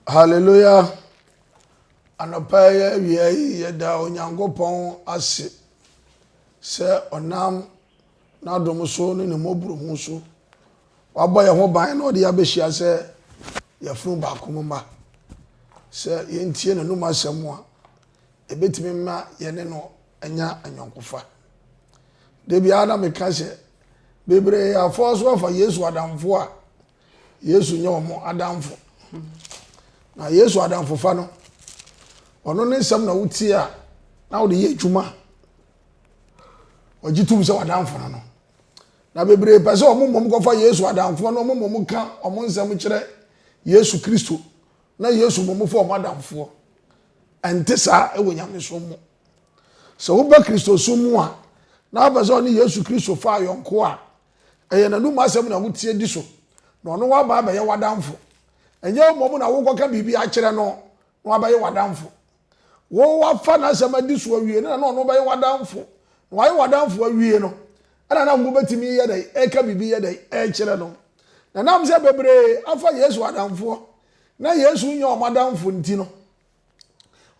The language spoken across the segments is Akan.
Hallelujah! Anɔpa yi awia yi yɛda Onyankopɔn ase sɛ ɔnam n'adom so ne ne mmɔborohu so wabɔ yɛn ho ban na ɔde abɛhyia sɛ yɛfunu baako mu mma sɛ yɛntie n'anum asɛm a ɛbɛtumi ma yɛne no anya anyɔnkofa da biara na meka sɛ bebree afɔɔ so afa yesu adamfo a Yesu nyɛ wɔn adamfo. Na Yesu adamfofa no, ɔno ne nsɛm na wotie a na wode yɛ adwuma. Ɔgye tom sɛ wadamfo no no. Na bebree pɛ sɛ wɔn mmom kɔfa Yesu adamfoɔ no wɔn mmom ka wɔn nsɛm kyerɛ Yesu Kristo na Yesu mmom fa wɔn adamfoɔ. Ɛnte saa wɔ nyamesom mu. Sɛ woba Kristosom mu a, na wopɛ sɛ ɔne Yesu Kristo fa ayɔnko a, Ɛyɛ n'anom asɛm na wotie di so, na ɔno aba abɛyɛ w'adamfo. Ɛnyɛ mmom na wokɔka biribi akyerɛ no na wabɛyɛ w'adamfo. Wo woafa n'asɛm adi so awie no na na ɔno bɛyɛ w'adamfo. Na wayɛ w'adamfo awie no, ɛna na mobɛtumi yɛ dɛn ɛka biribi yɛ dɛn ɛkyerɛ no. Na ɛnam sɛ bebree afa Yesu adamfoɔ na Yesu nyɛ wɔn adamfo nti no,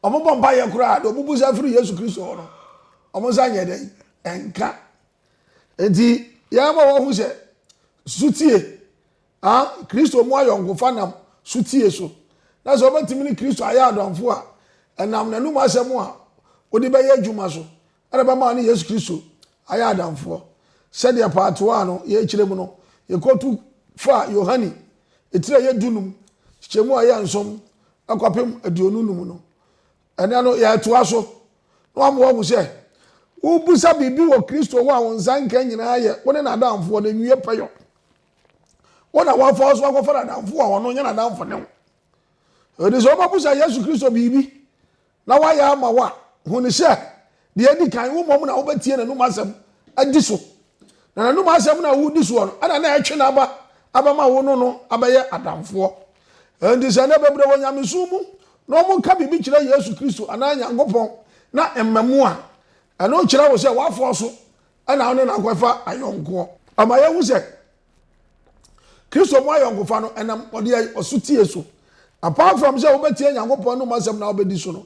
wɔbɔ mpaeɛ koraa deɛ wɔbusa firi Yesu Kristo hɔ no, wɔnsa nyɛ dɛn ɛnka. Enti, yɛma wɔhu sɛ sotie, a Kristo mu ayɔnkofa nam sotie so, na sɛ wobɛtumi ne Kristo ayɛ adɔmfo a, ɛnam n'anom asɛm a wode bɛyɛ adwuma so na ɛbɛma ne Yesu Kristo ayɛ adamfoɔ. Sɛdeɛ paatoaa no yɛkyerɛ mu no, yɛkɔtu faa Yohane etire yɛ dunum, kyekyɛmu a ɛyɛ nson kɔpem aduonu num no. Ɛnnɛ no, yɛretoa so na wɔama wɔahu sɛ wobisa biribi wɔ Kristo ho a wo nsa nka nyinaa yɛ wo ne n'adamfoɔ no nwie pɛyɔ. Wo na wɔafa wo so akɔfa n'adamfo a ɔno nyɛ n'adamfo ne wo. Ɛde sɛ wobɛbusa Yesu Kristo biribi na wayɛ ama wo a, hu no sɛ Deɛ adi kan, wo mmom na wobɛtie n'anom asɛm adi so, na n'anom asɛm no a wodi soɔ no ɛna na ɛtwe n'aba abɛma wo no no abɛyɛ adamfoɔ. Enti sɛ nnɛ bebree wɔ nyamesom mu na wɔka biribi kyerɛ Yesu Kristo anaa Nyankopɔn na ɛmma mu a, ɛno kyerɛ wo sɛ woafɔɔ so na wo ne no akɔfa ayɔnkoɔ. Ɛma yɛhu sɛ Kristo mu ayɔnkofa no ɛnam ɔdeɛ ɔsotie so. Apart from sɛ wobɛtie Nyankopɔn anom asɛm na wobɛdi so no,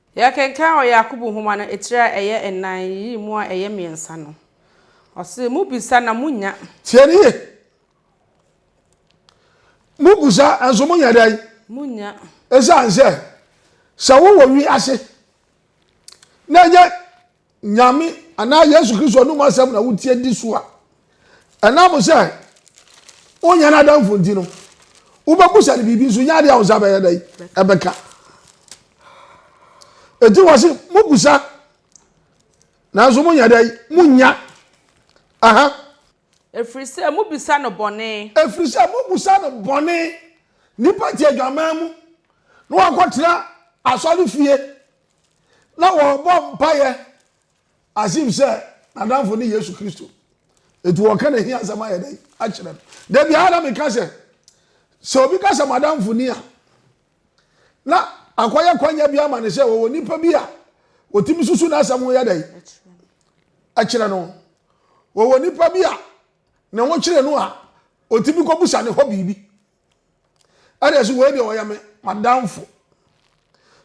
Yɛkenkan wɔ Yakobo nwoma no etire a ɛyɛ nnan yi mu a ɛyɛ mmiɛnsa no, ɔse, Mobisa na monnya. Tie no yie. Mobisa nso monya dɛn? Monnya. Esiane sɛ, sɛ wowɔ wiase na ɛnyɛ Nyame anaa Yesu Kristo anom asɛm na wotie di so a, ɛnam sɛ wonyɛ n'adamfo nti no, wobɛbusa no biribi nso, nyɛ adeɛ a wo nsa bɛyɛ dɛ ɛbɛka. Enti wɔ se mobusa nanso monyɛ dɛ monya. Aha. Ɛfiri sɛ mobisa no bɔne. Ɛfiri sɛ mobusa no bɔne. Nnipa te adwaman mu na wɔakɔtena asɔre fie. Na wɔrebɔ mpaeɛ as if sɛ n'adamfo ne Yesu Kristo. Enti wɔka ne hia asɛm ayɛ dɛn akyerɛ no. Da biara na meka sɛ, sɛ obi ka sɛ m'adamfo ni a, na akɔyɛ kwanya bi ama no sɛ wɔwɔ nipa bi a wɔtumi susu n'asɛm ho yɛ dɛn akyerɛ no. Wɔwɔ nipa bi a ne ho kyerɛ no a, ɔtumi kɔbusa ne hɔ biribi. ɛna ɛsɛ wei deɛ ɔyɛ me madamfo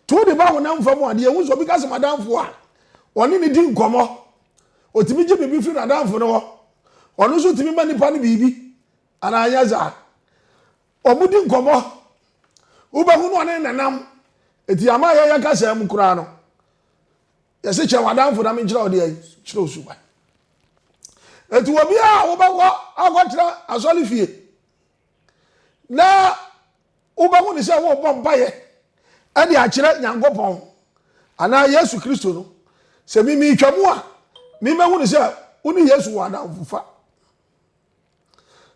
to de ba honam fam adeɛ ehu sɛ obi ka sɛ madamfo a ɔne ne di nkɔmɔ otumi gye biribi firi n'adamfo no hɔ ɔno nso tumi ma nipa no biribi anaa anya saa wɔn di nkɔmɔ wobɛhu no ɔne nanam eti ama yɛyɛ kasa mu koraa no yɛsɛ kyɛn wadamfo na menkyerɛ wo deɛ kyerɛ osuban eti obiara a wobɛkɔ akɔtena asɔre fie. na wobɛhu ne sɛ worebɔ mpaeɛ ɛde akyerɛ nyankopɔn anaa yesu kristo no sɛ memetwa mu a memɛhu ne sɛ wo ne yesu wɔ adamfofa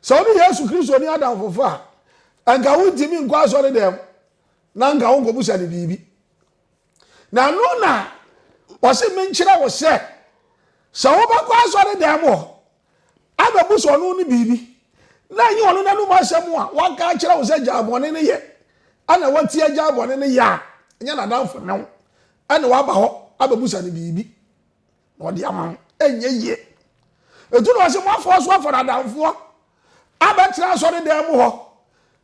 sɛ wo ne yesu kristo ne adamfofa a ɛnka wontumi nkɔ asɔre dɛm na nka wonkɔbusa ne biribi na ɛno na ɔse menkyerɛ wo sɛ sɛ wobɛkɔ asɔre dan mu hɔ abɛbu sɛ ɔno ne biribi na ɛnyɛ ɔno n'anom asɛm a waka akyerɛ wo sɛ gyaa bɔne no yɛ ɛna wati agyaa bɔne no yɛ a ɛnyɛ n'adamfo ne wo ɛna waba hɔ abɛbu sɛ ne biribi na ɔde ama wo ɛnyɛ yie ɛtu na ɔse moafoɔ so afɔ n'adamfoɔ abɛtena asɔre dan mu hɔ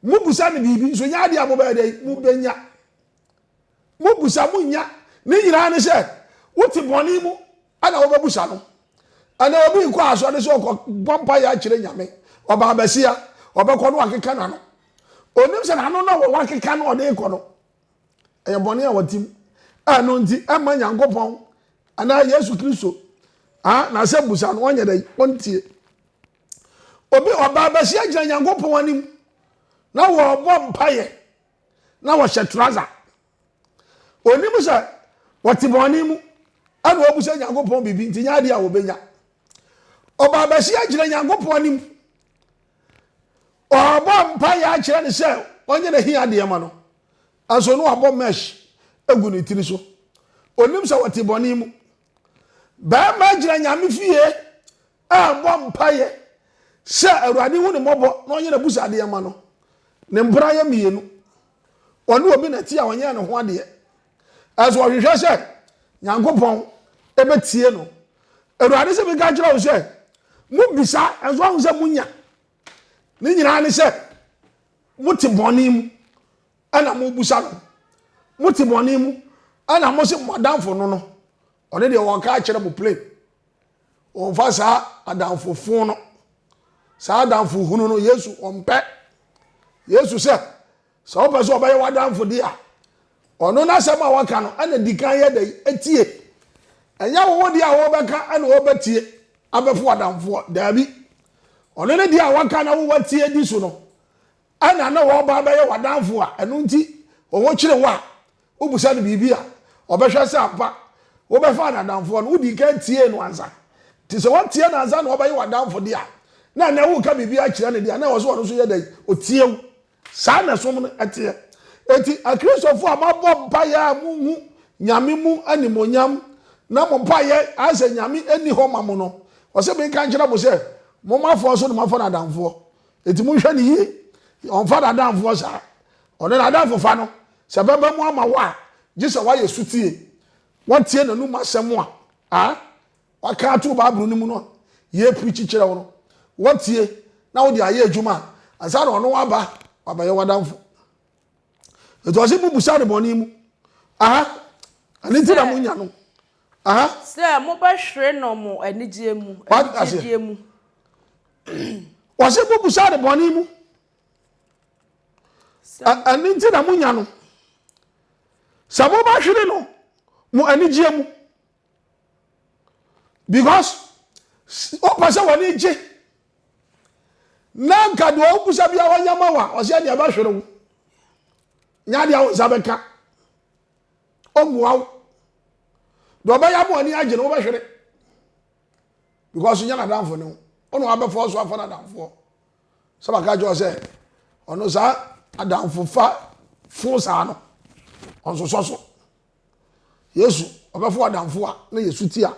mobusa ne biribi nso nyɛ adeɛ a mobɛyɛ dɛ mobɛnya Mobusa monnya. Ne nyinaa ne sɛ wote bɔne mu na wobɛbusa no. Ɛnɛ obi nkɔ asɔre sɛ ɔkɔ bɔ mpaeɛ akyerɛ Nyame. Ɔbaa basia, ɔbɛkɔ no akeka n'ano. Onim sɛ n'ano na wɔwɔ akeka no ɔde kɔ no. Ɛyɛ bɔne a wɔte mu. Ɛno nti ɛmma Nyankopɔn anaa Yesu Kristo n'asɛm busa no ɔnyɛ dɛ ɔntie. Obi ɔbaa basia gyina Nyankopɔn anim na wɔrebɔ mpaeɛ. na wɔhyɛ trouser. Onim sɛ wɔte bɔne mu ɛna wɔbisa Nyankopɔn biribi nti nyɛ adeɛ a wɔbɛnya. Ɔbaa bɛsi agyina Nyankopɔn anim. Ɔbɔ mpa yɛ akyerɛ ne sɛ ɔnyɛ n'ahi adeɛ ma no. Ɛnso no abɔ mesh egu ne tiri so. Onim sɛ wɔte bɔne mu. Bɛrima gyina Nyame fie ammɔ mpaeɛ sɛ Awurade nhu ne mmɔbɔ na ɔnyɛ n'abusuadeɛ mma no. Ne mpena yɛ mmienu. Ɔne obi na ɛte a ɔnyɛɛ ne ho adeɛ. Ɛso ɔhwehwɛ sɛ Nyankopɔn bɛtie no. Awurade sɛ meka kyerɛ wo sɛ, mobisa nso ahu sɛ monya. Ne nyinaa ne sɛ mote bɔne mu ɛna mobusa no. Mote bɔne mu ɛna mo se mo adamfo no no Ɔno deɛ ɔnka akyerɛ mo plain. Ɔmfa saa adamfo fo no. Saa adamfo hunu no Yesu ɔmpɛ. Yesu sɛ sɛ wopɛ sɛ ɔbɛyɛ w'adamfo de a ɔno n'asɛm a waka no ɛna di kan yɛ dɛ etie. Ɛnyɛ wo wo deɛ a wɔbɛka ɛna wɔbɛtie abɛfo adamfoɔ. Daabi. Ɔno ne deɛ a waka na wo watie di so no Ɛna na ɔreba abɛyɛ w'adamfo a, ɛno nti ɔkyere wo a, wobisa no biribi a, ɔbɛhwɛ sɛ ampa wobɛfaa no adamfoɔ no, wodii kan tiee no ansa. Nti sɛ woantie no ansa na ɔbɛyɛ w'adamfo deɛ a, na ɛnnɛ woreka biribi akyerɛ no deɛ a, na ɛwɔ sɛ ɔno nso yɛ dɛn? Ɔtie wo. Saa na som no teɛ. Enti Akristofoɔ a moabɔ mpaeɛ a monhu Nyame mu animuonyam na mo mpaeɛ ayɛ sɛ Nyame nni hɔ ma mo no, ɔse menka nkyerɛ mo sɛ, momma afoa so na moafa no adamfoɔ. Enti monhwɛ no yie. Ɔmfa n'adamfoɔ saa. Ɔne n'adamfofa no, sɛ ɛbɛba mu ama wo a, gye sɛ woayɛ sotie. Woatie n'anom asɛm a a waka ato Bible no mu no a yɛreprikyi kyerɛ wo no. Woatie na wode ayɛ adwuma a, ansa na ɔno aba wabɛyɛ w'adamfo. Enti ɔse mobusa no bɔne mu. Aha, ɛno nti na monya no. Sɛ mobɛhwere no mo anigyeɛ mu, anigyedeɛ mu. Wɔse mobusa no bɔne mu. Ɛno nti na monya no. Sɛ mobɛhwere no mo anigyeɛ mu. Because wopɛ sɛ wɔne gye. Na nka deɛ wobusa bia wɔnyɛ ma wa, ɔsɛ deɛ ɛbɛhwere wo. Nya deɛ wo nsa bɛka. ɔmmoa wo deɛ ɔbɛyɛ ama w'ani agye no wobɛhwere because nyɛ n'adamfo ne wo ɔno abɛfɔ so afa n'adamfoɔ sɛ baka kyerɛ sɛ ɔno saa adamfo fa fo saa no ɔnsosɔ so yesu ɔbɛfo adamfo a na yesu ti a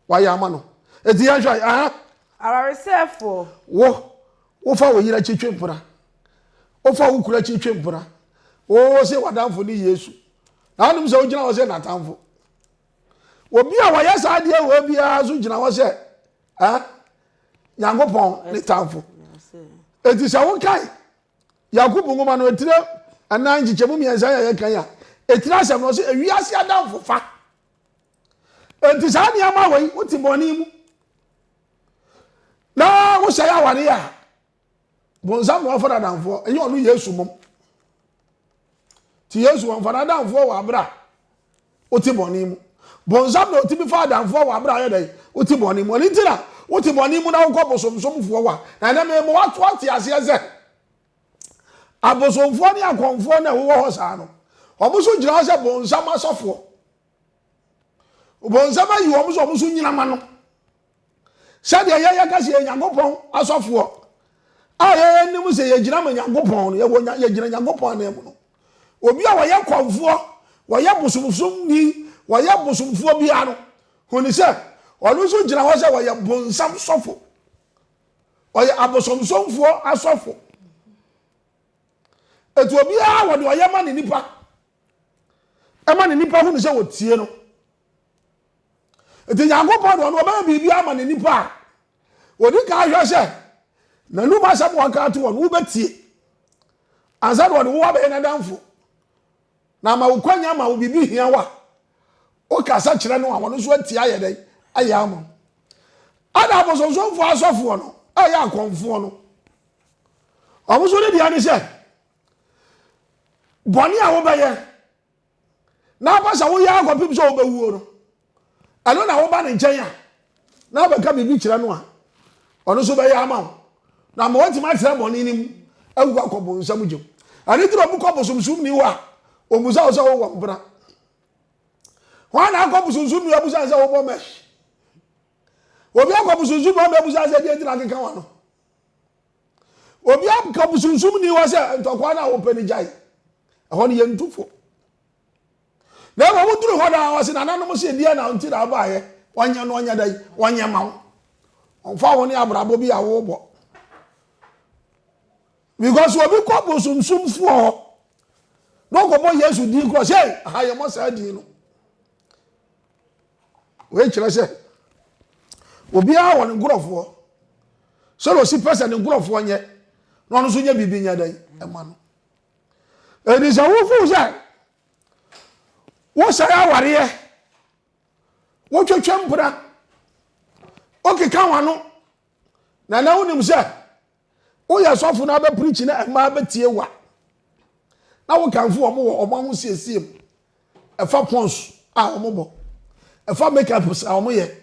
wayɛ ama no eti yɛhwɛ ɛhɛ awaresɛfoɔ wo Wofa wo yere akyi twe mpena. Wofa wo kunu akyi twe mpena. Wose w'adamfo ne Yesu. Na wonim sɛ wogyina hɔ sɛ n'atamfo. Obi a wɔyɛ saa adeɛ wɔ biara nso gyina hɔ sɛ eh, Nyankopɔn ne tamfo. Enti sɛ wokan Yakub nwoma no etire ɛnan nkyekyɛmu mmiɛnsa yɛ yɛkan a, etire asɛm no ɔsɛ ewiase adamfofa. Enti saa nneɛma wei wote bɔne mu na wohyɛ yɛ aware a bonsam na wɔfa n'adamfoɔ ɛnyɛ ɔno yesu mom ti yesu wɔmfa n'adamfoɔ wɔ abere a wote bɔne mu bonsam na ɔtumi fa adamfoɔ wɔ abere a yɛ dɛn wote bɔne mu ɔne ti na wote bɔne mu na wokɔ bosomsomfoɔ wa na ɛnɛ mema wato ate aseɛ sɛ abosomfoɔ ne akɔmfoɔ na ɛwowɔ hɔ saa no wɔn nso gyina hɔ sɛ bonsam asɔfoɔ Ɔbonsam ayi wɔn sɛ wɔn so nyina ma no. Sɛdeɛ yɛyɛ ka sɛ yɛ Nyankopɔn asɔfoɔ a yɛyɛ nim sɛ yɛgyina ma Nyankopɔn no, yɛwɔ yɛgyina Nyankopɔn anan mu no. Obi a wɔyɛ kɔmfoɔ, wɔyɛ bosomsomni, wɔyɛ bosomfoɔ biara no, huni sɛ ɔno nso gyina hɔ sɛ wɔyɛ bonsam sɔfo. Ɔyɛ abosomsomfoɔ asɔfo. Etu obiara wɔde ɔyɛ ma ne nipa. ɛma ne nipa hunu sɛ wɔtie no nti nyankopɔn deɛ ɔno ɔbɛyɛ biribi ama ne nipa a wɔdi ka ahwɛ sɛ n'anum asɛm wɔka to wɔn wobɛtie ansa na ɔde wo abɛyɛ n'adamfo na ama wo kwanya ma wo biribi hia wo a wokasa kyerɛ no a wɔn nso atie ayɛ dɛn ayɛ ama wo ɛna abosonsomfoɔ asɔfoɔ no ɛyɛ akɔmfoɔ no wɔn nso ne deɛ ne sɛ bɔne a wobɛyɛ na aba sɛ woyɛ akɔpem sɛ wobɛwuo no ɛno na woba ne nkyɛn a na wobɛka biribi kyerɛ no a ɔno nso bɛyɛ ama wo na ama woatumi atena bɔne no mu awu akɔ bonsam gyem ɛno nti na ɔmo kɔ bosomsom ni hɔ a ɔmusa wo sɛ wowɔ mpena hwan na akɔ bosomsom ni abusa sɛ wobɔ mɛs obi akɔ bosomsom ni ɔmo abusa sɛ deɛ ntina akeka wa no Obiara nka bosunsum ni hɔ sɛ ntɔkwa no a wopɛ no gyae. Ɛhɔ no yɛntu fo. Na mmom woduru hɔ daa wɔse nananom se deɛ na nti na wobaeɛ wɔnyɛ no ɔnyɛ dɛn wɔnyɛ ma wo. Ɔmfa wo ne abrabɔ bi a wobɔ. Because obi kɔ bosomsomfoɔ hɔ na ɔkɔbɔ Yesu din korɔ sɛ ha yɛmmɔ saa din no. Wei kyerɛ sɛ, obiara wɔ ne nkurɔfoɔ. Sɛdeɛ ɔsi pɛ sɛ ne nkurɔfoɔ nyɛ na ɔno nso nyɛ biribi nyɛ dɛn ɛma no. Ɛdi sɛ wofu sɛ wosɛe awareɛ, wotwetwe mpena, wokeka w'ano, na na wonim sɛ Woyɛ sɔfo na abɛprikyi na mmaa bɛtie wo a, na wokamfo wɔn wɔ wɔn ahosiesie mu. Ɛfa pons a wɔbɔ, ɛfa makeups a wɔyɛ,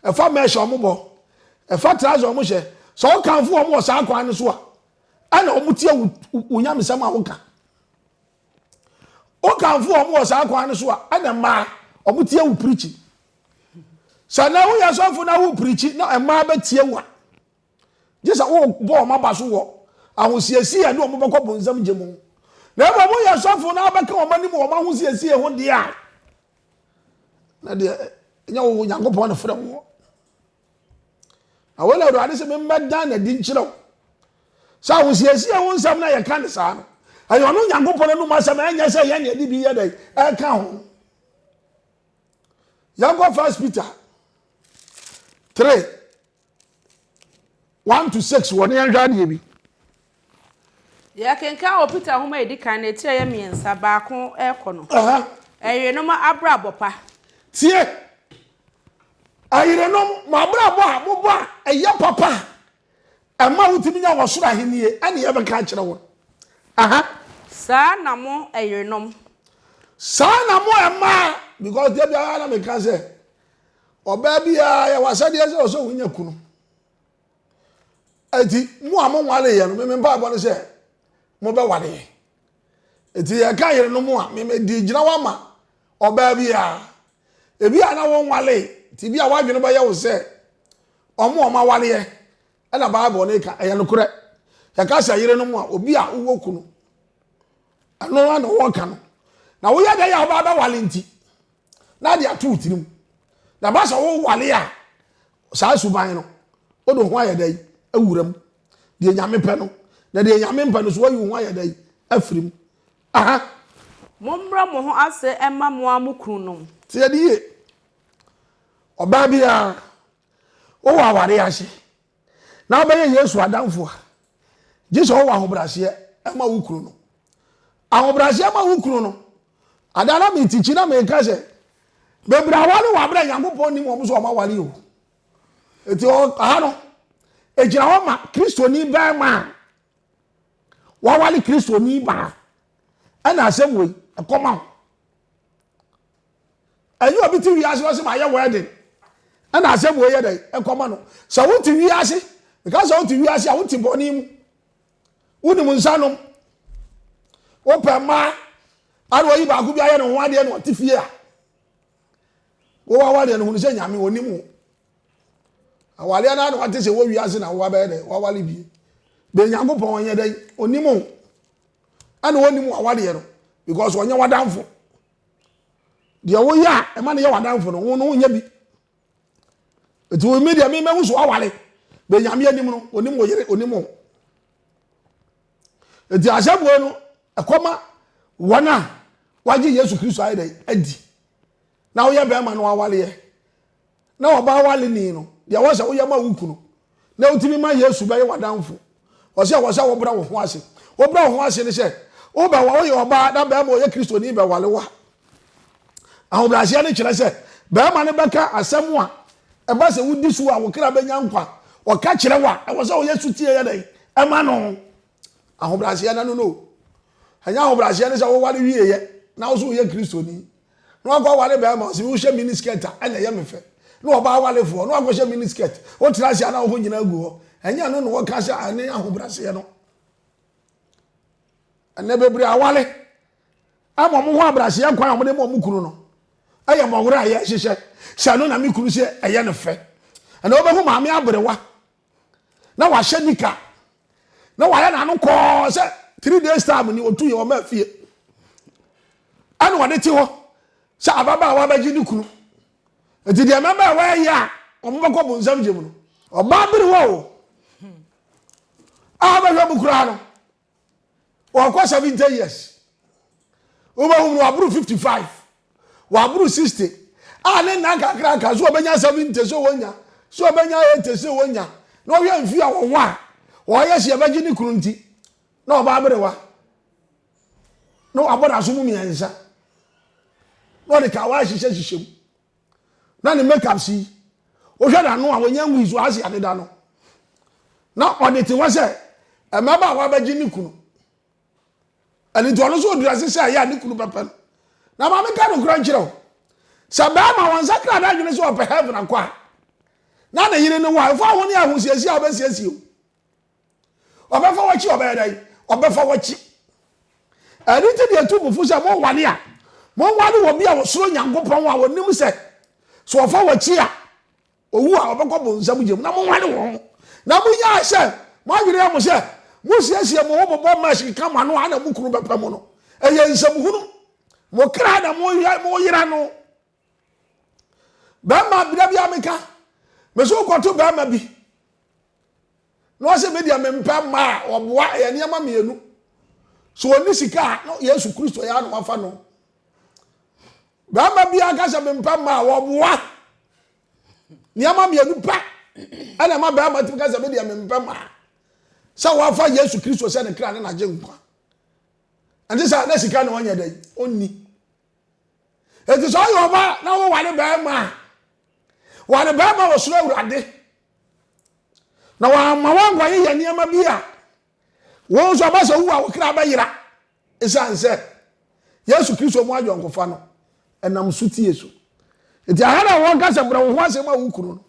ɛfa mesh a wɔbɔ, ɛfa trouser a wɔhyɛ. Sɛ wokamfo wɔn wɔ saa kwan no so a, ɛna wɔtie wo nyamesɛm a woka. Wokamfo wɔn wɔ saa kwan no so a, ɛna mmaa wɔtie wo prikyi. Sɛ na woyɛ sɔfo na wo prikyi na mmaa bɛtie wo a, gye sɛ wobɔ wɔn aba so wɔ ahosiesie a ɛde wɔn bɛkɔ bonsam gye mu. Na mmom woyɛ sɔfo na wobɛka wɔn anim wɔn ahosiesie ho deɛ a, na deɛ ɛnyɛ wo Onyankopɔn na frɛ woɔ. Na wei na Awurade sɛ memmɛdan n'adi nkyerɛ wo. Sɛ ahosiesie ho nsɛm na yɛka ne saa no, ɛyɛ ɔno Onyankopɔn anom asɛm ɛnyɛ sɛ yɛn na yɛde bi yɛ dɛ ɛka ho. Yɛnkɔ First Peter 3 one to six wɔ ne yɛn hwɛ adeɛ bi. yɛkenkan wɔ peter nwoma a ɛdi kan no etire yɛ mmiɛnsa baako ɛkɔ no ɛyerenom abrabɔ pa. tie ɛyerenom mo abrabɔ a mobɔ a ɛyɛ papa a ɛma wotumi nya wɔsoro ahennie ɛne yɛbɛka akyerɛ wɔn aha. saa na mo ɛyerenom. saa na mo ɛmaa because deɛ biara na meka sɛ Ɔbaa biara yɛ w'asɛdeɛ sɛ ɔsɛ wonya kunu. Eti mo a monwaleeɛ no, meme mpaebɔ no sɛ mobɛwaleɛ. Eti yɛka yerenom a, meme di gyina wama ɔbaa biara. Ebi a na wonwalee, ti bi a w'adwene bɛyɛ wo sɛ ɔmo a ɔmo awaleɛ ɛna Bible no ka, ɛyɛ nokorɛ. Yɛka sɛ yerenom a, obi a wowɔ kunu. Ɛno na wɔka no. Na woyɛ dɛ yɛ a wobaa bɛwale nti, na de ato wo tirim na ba sɛ wowale a saa suban no wode ho ayɛ dɛn awura mu deɛ nyame pɛ no na deɛ nyame mpɛ no so wayi wo ho ayɛ dɛn afiri mu aha mommrɛ mo ho ase mma mo a mo kununom tiɛ ne yie ɔbaa biara wowɔ aware ase na wobɛyɛ Yesu adamfo a, gye sɛ wowɔ ahobrɛaseɛ ma wo kunu no. Ahobrɛaseɛ ma wo kunu no. Ada na metikyi na meka sɛ, bebree aware wɔ aberɛ Nyankopɔn nim wɔn sɛ wɔn aware o. Eti aha no, egyina hɔ ma Kristoni bɛrima a waware Kristoni baa ɛna asɛm wei ɛkɔma ho. Ɛnyɛ obi te wiase na ɔsɛ mayɛ wedding ɛna asɛm wei yɛ dɛ ɛkɔma no. Sɛ wote wiase, meka sɛ wote wiase a wote bɔne mu. Wonim nsa nom. Wopɛ mmaa ana oyi baako bi ayɛ ne ho adeɛ na ɔte fie a. Wowɔ awadeɛ no hunu sɛ nyame ɔnim wo. Awadeɛ no ana wate sɛ wɔ wiase na wowa bɛyɛ dɛ wawale bie. Bɛ Nyankopɔn ɔnyɛ dɛ ɔnim wo. Ɛna ɔnim wawadeɛ no because ɔnyɛ wadamfo. deɛ woyɛ a ɛma no yɛ w'adamfo no wo no wonyɛ bi nti wo mi deɛ memahu so awale bɛ nyame anim no onim wo yere onim wo nti asɛmboe no ɛkɔma wɔn a wagye yesu kristo ayɛ dɛ adi na woyɛ bɛrima no awaleɛ na ɔbaa waleni no, deɛ wɔsɛ woyɛ ma wo kunu na wotumi ma Yesu bɛyɛ w'adamfo. Wɔsɛ wɔsɛ wobrɛ wo ho ase. Wobrɛ wo ho ase ne sɛ woba wɔ woyɛ ɔbaa na bɛrima ɔyɛ kristoni bɛwale wo a. Ahobrɛaseɛ no kyerɛ sɛ bɛrima no bɛka asɛm a ɛba sɛ wodi so a wo kra bɛnya nkwa. Ɔka kyerɛ wo a ɛwɔ sɛ ɔyɛ sotie yɛ dɛn ɛma no. Ahobrɛaseɛ no no no. Ɛnyɛ ahobrɛaseɛ ne sɛ woware wieɛ na wo so woyɛ kristoni. Na wakɔ aware bɛɛma ɔse me wo hyɛ mini skirt a ɛna ɛyɛ me fɛ na ɔba awarefoɔ na wakɔ hyɛ mini skirt wo tena ase a na woho nyina agu hɔ ɛnyɛ ɛno na wɔka sɛ ɛne ahobraseɛ no ɛnɛ bebree aware ama ɔmo ho abraseɛ kwan a ɔmo de ma ɔmo kunu no ɛyɛ mɔwerɛ a yɛhyehyɛ sɛ ɛno na me kunu sɛ ɛyɛ ne fɛ ɛna wobɛhu maame aberewa na wahyɛ nika na wayɛ n'ano kɔɔ sɛ three days time ni otu yɛ ɔma fie ɛna ɔde te hɔ sɛ ababaawa bɛgye ne kunu nti deɛ mmabaawa yɛ a wɔn bɛkɔ bu nsɛm gyem no ɔbaa bere wɔ o a bɛhwɛ mu koraa no. wɔkɔ seventy years wobɛhu no waboro fifty five waboro sixty a ne nna nkakrankra so wɔbɛnya seventy so wɔnya so wɔbɛnya eighty so wɔnya na wɔhwɛ mfie a wɔwɔ a wɔyɛ si ɛbɛgye ne kunu nti na ɔbaa berewa na wabɔ n'aso mu mmiɛnsa na ɔde kawa ahyehyɛ hyehyɛ mu. na ne makeup si wohwɛ n'ano a wɔnyɛ nwii so ase adeda no na ɔde te hɔ sɛ mmabaawa abɛgye ne kunu ɛne nti ɔno nso ɔdurase sɛ ɛyɛ a ne kunu bɛpɛ no na maame ka nokorɛ nkyerɛ wo sɛ bɛrima wɔn nsa kra da adwene sɛ ɔpɛ heaven akɔ a na ne yere ne wɔ a ɛfa ho ne ahosiesie a wobɛsiesie o ɔbɛfa wakyi ɔbɛyɛ dɛn ɔbɛfa wakyi ɛne ti deɛ tu mufo sɛ mowale a mowale wɔ bi a wɔsoro nyankopɔn a wɔnim sɛ sɛ ɔfa wakyi a owu a ɔbɛkɔ bo nsɛm gyem na mowale wɔn na monyaa sɛ moadwene yɛ mo sɛ mosiesie mo ho mobɔ mmash keka mo ano a na mo kunu bɛpɛ mo no ɛyɛ nsɛm hunu mo kra na moyera no bɛrima bida bi a meka mesi wokɔto bɛrima bi na ɔsɛ me deɛ mempɛ mmaa a ɔboa ɛyɛ nneɛma mmienu so ɔni sika a na yesu kristo yɛ ano afa no bɛrima bi aka sɛ mempɛ mmaa a ɔboa nneɛma mmienu pɛ ɛna ɛma bɛrima tumi ka sɛ me deɛ mempɛ mmaa sɛ wafa yesu kristo sɛ ne kra ne n'agye nkwa ɛnti sɛ na sika na ɔnyɛ dɛn ɔnni Enti sɛ ɔyɛ ɔba na woware barima a, ware barima a ɔsoro awurade na wɔama woankɔyeyɛ nneɛma bi a wɔn nso aba sɛ wu a wo kra bɛyera ɛsiane sɛ yesu kristo mu ayɔnkofa no ɛnam so tie so nti aha na wɔka sɛ brɛ wo ho asɛm a wo kunu no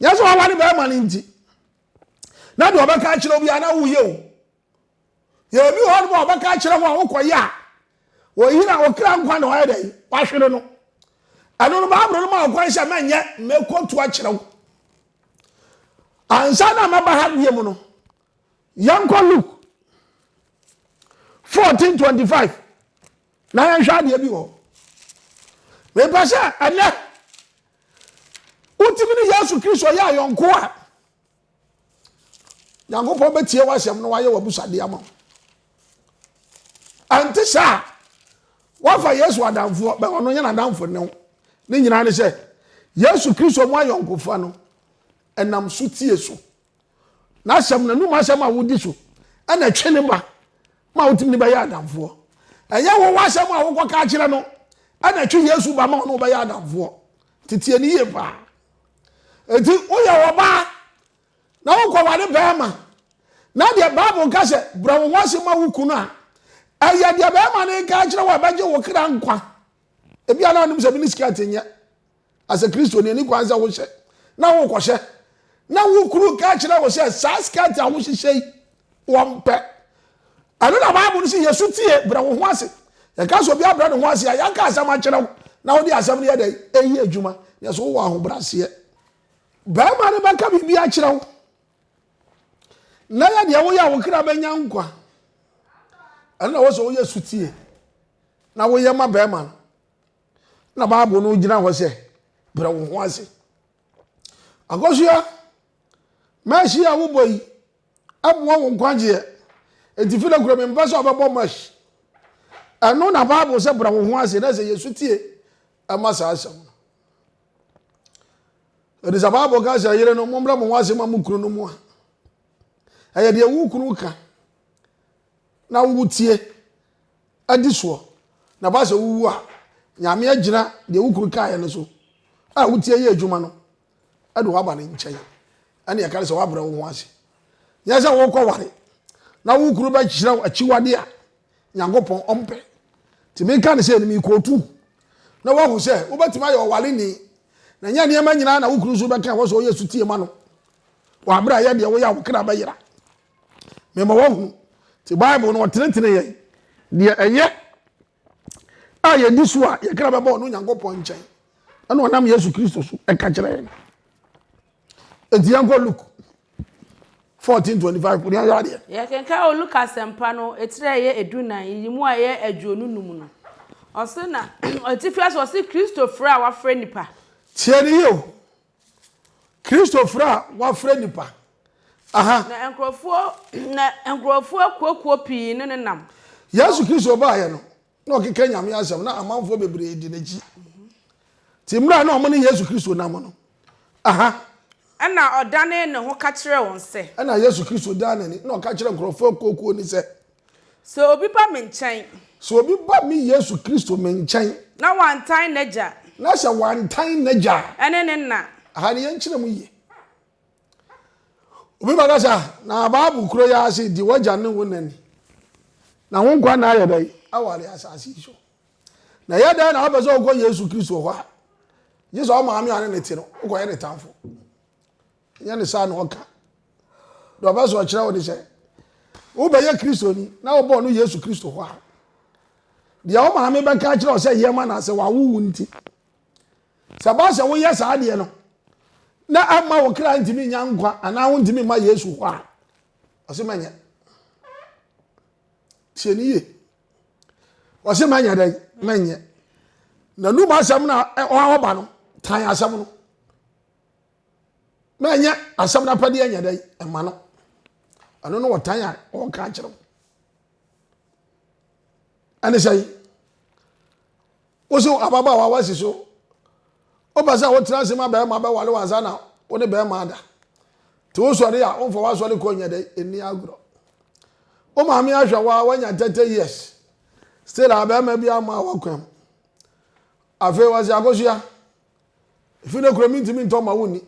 nyɛ sɛ waware bɛrima no nti na deɛ ɔbɛka akyerɛ obiara na woyɛ o yɛ obi hɔ no ma ɔbɛka akyerɛ ho a wokɔyɛ a wɔyera wɔkra nkwa na wɔayɛ dɛn wahwere no ɛno no baaboro no ma ɔkwan sɛ mɛnyɛ mɛkɔtu akyerɛ wo ansa na mɛba ha bie mu no yɛnkɔ luke 1425 na yɛnhwɛ adeɛ bi wɔ mepɛ sɛ ɛnɛ wotumi ne yesu kristo yɛ ayɔnko a Nyankopɔn bɛtie w'asɛm na wayɛ w'abusadeɛ ama wo. Ɛnte saa a, woafa Yesu adamfoɔ bɛ ɔno nyɛ n'adamfo ne wo. Ne nyinaa ne sɛ, Yesu Kristo mu ayɔnkofa no ɛnam so tie so. N'asɛm, n'anum asɛm a wodi so ɛna ɛtwe ne ba ma wotumi ne bɛyɛ adamfoɔ. Ɛnyɛ wo w'asɛm a wokɔka akyerɛ no ɛna ɛtwe Yesu ba ma ɔne wo bɛyɛ adamfoɔ. Tetie ne yie paa. Enti woyɛ ɔbaa na wokɔware barima na deɛ Bible ka sɛ brɛ wo ho ase ma wo kunu a, ɛyɛ deɛ barima no reka akyerɛ wo a ɛbɛgye wo kra nkwa. Ebia na ɔnim sɛ mini skirt nyɛ asɛ Kristo ni ɛni kwan sɛ wohyɛ na wokɔhyɛ na wo kunu ka kyerɛ wo sɛ saa skirt a wohyehyɛ yi wɔmpɛ. Ɛno na Bible no sɛ yɛ so tie, brɛ wo ho ase. Yɛka sɛ obi abrɛ ne ho ase a, yɛaka asɛm akyerɛ wo na wode asɛm no yɛ dɛn? Ɛyi adwuma. Yɛ so wowɔ ahobrɛaseɛ. Barima no bɛka biribi akyerɛ wo na yɛ deɛ woyɛ a wo kra bɛnya nkwa. Ɛno na wɔ sɛ woyɛ so tie na woyɛ ma barima no. Na Bible no gyina hɔ sɛ brɛ wo ho ase. Akɔsoa, mɛhye a wobɔ yi, Ɛmoa wo nkwagyeɛ. Enti firi kura mi mpɛ sɛ ɔbɛbɔ mash. Ɛno na Bible sɛ bra wo ho ase na sɛ Yesu tie ɛma saa asɛm no. Ɛdi sɛ Bible ka sɛ yere no mommrɛ mo ho ase ma mo kunu no mu a. Ɛyɛ deɛ wo kunu ka na wotie adi soɔ na ba sɛ wowu a nyame agyina deɛ wo kunu kaeɛ no so a wotie yɛ adwuma no de wo aba ne nkyɛn, ɛnna ɛka no sɛ woabrɛ wo ho ase. Nyɛ sɛ worekɔware na wo kunu bɛkyerɛ wo akyiwade a Nyankopɔn ɔmpɛ. Nti meka no sɛ no merekɔtu na woahu sɛ wobɛtumi ayɛ ɔwareni na nyɛ nneɛma nyinaa na wo kunu nso bɛka ɛwɔ sɛ ɔyɛ sutie ma no wɔ aberɛ a yɛ deɛ woyɛ a wo kra bɛyera mema woahunu nti bible no ɔtenetene yɛn deɛ ɛyɛ a yɛdi so a yɛkra bɛbɔ ɔno Nyankopɔn nkyɛn ɛna ɔnam Yesu Kristo so ɛka kyerɛ yɛn enti yɛnkɔ Luke 14:25 kò ní ayé adeɛ. yɛkenkan wɔ Luke asɛmpa no etire a ɛyɛ edunan yi mu a ɛyɛ aduonu num no ɔse na atifi ase ɔse Kristo frɛ a wafrɛ nipa. Tie ne yie o, Kristo frɛ a wafrɛ nipa. Aha. Na nkurɔfoɔ na nkurɔfoɔ akuakuo pii ne ne nam. Yesu Kristo baeɛ no, na ɔkeka Nyame asɛm, na amanfoɔ bebree di n'akyi. Ti mmerɛ a na wɔn ne Yesu Kristo nam no. Aha. Ɛna ɔdanee ne ho ka kyerɛɛ wɔn sɛ. Ɛna Yesu Kristo dan n'ani, na ɔka kyerɛɛ nkurɔfoɔ akuakuo no sɛ. Sɛ obi ba me nkyɛn. Sɛ obi ba me Yesu Kristo me nkyɛn. Na wantan n'agya. Na sɛ wantan n'agya a. Ɛne ne nna. Aha no yɛnkyerɛ mu yie. Obi bɛka sɛ, na Bible kuro yɛ ase di w'agya ne wo na ni. Na wo nkwa na ayɛ dɛn? Aware asase yi so. Na ɛyɛ dɛn na wopɛ sɛ wokɔ Yesu Kristo hɔ a? Gye sɛ wo maame a ɔne ne te no, wokɔyɛ ne tamfo. Ɛnyɛ ne saa na ɔka. Deɛ ɔpɛ sɛ ɔkyerɛ wo ne sɛ, wobɛyɛ Kristoni na wobɔ no Yesu Kristo hɔ a, deɛ wo maame bɛka akyerɛ wo sɛ yɛ ma no sɛ wawo wo nti. Sɛ ɛba sɛ woyɛ saa deɛ no, na ɛmma wo kra ntumi nya nkwa anaa wontumi mma Yesu hɔ a, ɔse mɛnyɛ. Tie ne yie. Ɔse mɛnyɛ dɛn? Mɛnyɛ. N'anum asɛm na ɔba no, tan asɛm no. na ɛnyɛ asɛm no apɛdeɛ nyɛ dɛ ɛma no ɛno no wɔtan a ɔka akyerɛ wo ɛne sɛ woso ababaawa wasi so wopɛ sɛ wotena ase ma bɛrima bɛwale wo ansa na wo ne bɛrima ada nti wosɔre a womfa woasɔre kɔ nyɛ dɛ ɛnni agorɔ wo maame ahwɛ wo a woanya 30 years still a bɛrima bi ama a woakwam afei wɔse akosua Efi ne kura mintimi ntɔ ma wonni.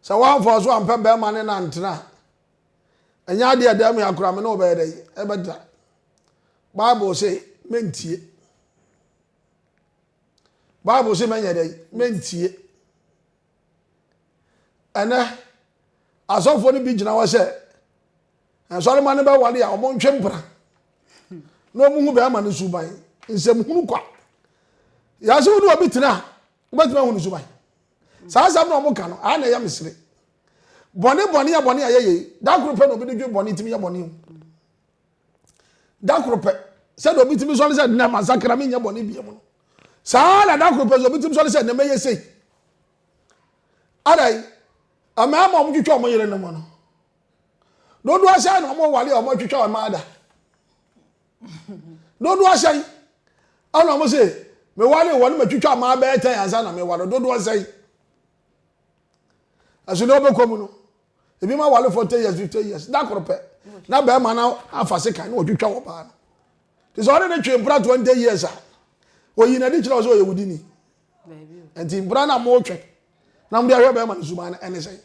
Sɛ woamfa so ampɛ bɛrima ne no antena a, ɛnyɛ adeɛ a ɛda mu yɛ akora me ne wɔbɛyɛ dɛn ɛbɛtra. Bible se mentie. Bible se mɛnyɛ dɛn mentie. Ɛnɛ asɔfoɔ no bi gyina hɔ sɛ Nsɔremma no bɛware a, wɔntwe mpena na wɔhu bɛrima no suban. Nsɛmhunu kwa. Yɛase wo ne obi tena a, wobɛtumi ahu no suban. Saa asɛm na wɔka no, ayɛ na ɛyɛ mesere. Bɔne bɔne a bɔne a yɛyɛ da koro pɛ na obi de dwe bɔne tumi yɛ bɔne o. Da koro pɛ sɛdeɛ obi tumi sɔre sɛ nnɛ masakra menyɛ bɔne biam no saa na da koro pɛ sɛ obi tumi sɔre sɛ nnɛ mɛyɛ sei. Adai, mmarima a wɔtwitwa wɔn yere no mu no, Dodoɔ sɛn na wɔn wale a wɔn atwitwa wɔn ada? Dodoɔ sɛn ɛna wɔn se me wale wɔn ma twitwa wɔn abɛɛ tɛn ansa na me wale dodoɔ sɛn? Ɛso na ɔbɛkɔ mu no ebi ma wale forty years fifty years da koro pɛ na bɛrima na afa se kan na wɔtwitwa wɔn baa no te sɛ ɔne ne twe mpra twenty years a oyi na ɛde kyerɛ ɔsɛ ɔyɛ wudi ni nti mpra na mo twɛn na mo de ahwɛ bɛrima no suma ɛne sɛn.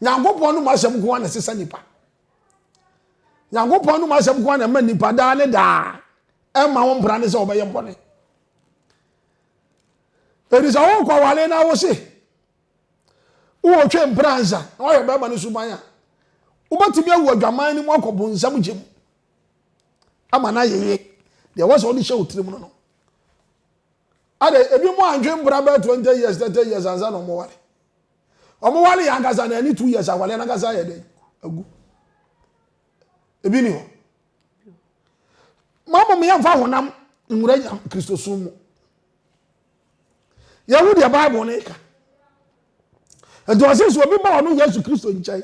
nyankopɔn nom asɛm nko a na ɛsesa nipa nyankopɔn nom asɛm nko a na ɛma nipa daa ne daa ɛma wo mpra ne sɛ wɔbɛyɛ mbɔne ɛdi sɛ wokɔ awale no wo se wowɔtwe mpra nsa na woayɛ bɛrima no suban a wobɛtumi awu adwaman no mu akɔ bonsam gye mu ama no ayeye deɛ wɔ sɛ wode hyɛ wo tirim no no ade ebi mu antwe mpra bɛɛ 20 years 30 years ansa na ɔmoware Ɔmo ware yɛ ankasa na ɛne two years aware no ankasa ayɛ dɛn agu ebi ni hɔ mo mo yɛn fa honam nwura nya kristosom mu yɛn ho deɛ bible ne ka nti ɔsi so obi ba ɔno yesu kristo nkyɛn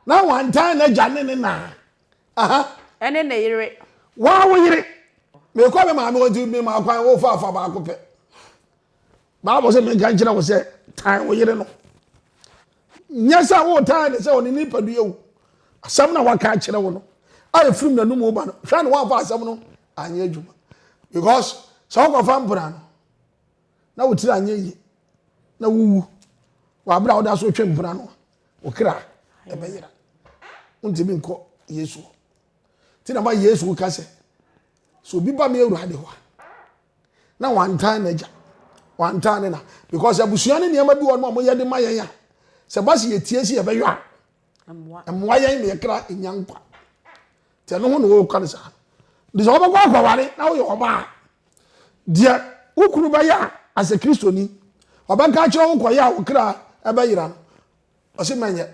na wantan n'agya ne ne naa aha ɛne ne yere wɔn awo yere mekɔ me maame wɔn ti mi ma kwan wofa afa baako pɛ. Bible sɛ menka nkyerɛ wo sɛ tan wo yere no. Nyɛ sɛ wotan ne sɛ ɔne ne nipadua wu. Asɛm na waka akyerɛ wo no a ɛfirim n'anom wo ba no, hwɛ ne woamfa asɛm no anyɛ adwuma. Because sɛ wokɔfa mpena no na wotiri anyɛ yie na wowu wɔ abere a woda so twe mpena no wo kra ɛbɛyera. Wontumi nkɔ Yesu hɔ. Nti na ma Yesu ka sɛ, sɛ obi ba me awurade hɔ a, na wantan n'agya wantan ne na because abusua ne nneɛma bi wɔn a wɔyɛ de ma yɛn a sɛ ba si yɛtie si yɛbɛyɔ a mmoa yɛn na yɛkra nya nkwa te ɛno ho na wɔka no saa de sɛ wɔbɛkɔ akɔware na woyɛ ɔbaa deɛ wo kunu bɛyɛ a asɛ kristoni ɔbɛka kyerɛ wo kɔyɛ a wokra ɛbɛyera no ɔse mɛnyɛ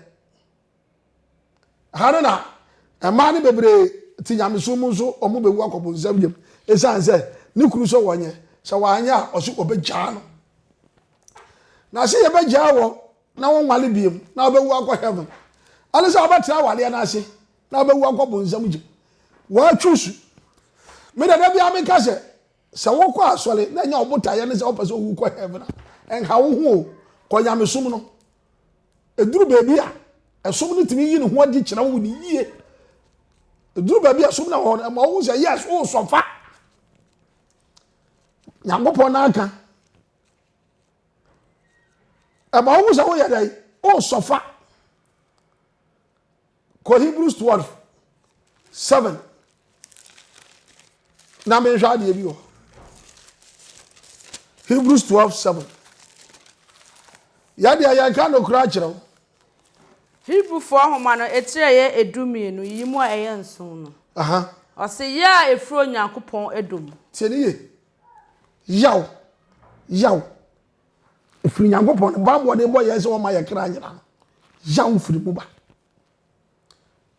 Ɛha no na mmaa no bebree te nyamesom mu nso wɔbɛwu akɔ bonsam yam ɛsiane sɛ ne kunu sɛ wɔnyɛ, sɛ wɔanyɛ a ɔse ɔbɛgyaa no. Na sɛ yɛbɛgyaa wɔn na wɔnwale biem na wɔbɛwu akɔ heaven ɛne sɛ wɔbɛtra awaleɛ no ase na wɔbɛwu akɔ bonsam gyem. Wɔatwu su. Me dada biara meka sɛ Sɛ wokɔ asɔre na ɛnyɛ wo botaeɛ ne sɛ wopɛ sɛ owu kɔ heaven a, ɛnha wo ho o. Kɔ nyamesom no. Ɛduru baabi a, ɛsom no tumi yi ne ho adi kyerɛ wo ne yie. Ɛduru baabi a ɛsom no wɔ hɔ no, ɛma wohu sɛ yes, woresɔfa. Nyankopɔn no aka. Ɛma wohu sɛ woyɛ dɛn? Woresɔfa. kɔ hebrews twelve seven na menhwɛ adeɛ bi wɔ hebrews twelve seven yɛdeɛ yɛnka nokora akyerɛ wo Hebrifoɔ nhoma no etire yɛ edu mmienu, yiyi mu a ɛyɛ nson no. Aha. Ɔse yɛ a efiri Onyankopɔn ɛdɔ mu. Tie ne ye. Yaw. Yaw. Ɛfiri Nyankopɔn ne bammɔ ne bɔ yɛn sɛ wɔma yɛ kra nyina no yaw firi mu ba.